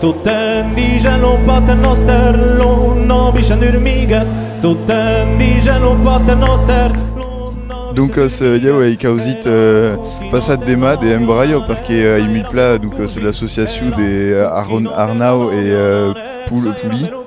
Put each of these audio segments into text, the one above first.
Tot en dija lo Pate Nòster, lo nòbi Jan Urmigat, tot en dija lo Pate Nòster, lo nòbi Jan Urmigat. Doncas, ieu ei causit passat demà de embraio perque ei mil pla, doncas, l'associacion de Arnau e Poli.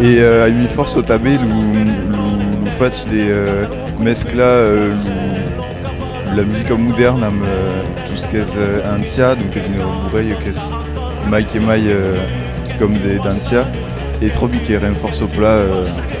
E a ui fòrça tanben lo fach de mesclar la musica modèrna amb tot ce qu'es ancian, donques un aparelh qu'es mai que mai quicòm d'ancian e tròbi que ren fòrça plan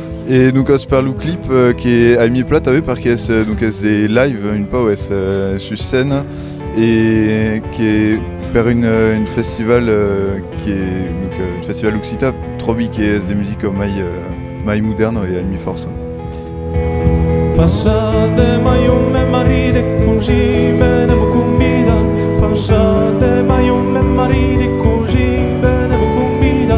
Et donc es per lo clip que ai mis plat aveu perque es donc es de live un pau es sus scène et que per un un festival que donc un festival occitan tròbi que es de musica mai mai modèrna e ai mis fòrça. Passa dema jo me maride cosi bene vo convida passa dema jo me maride cosi bene vo convida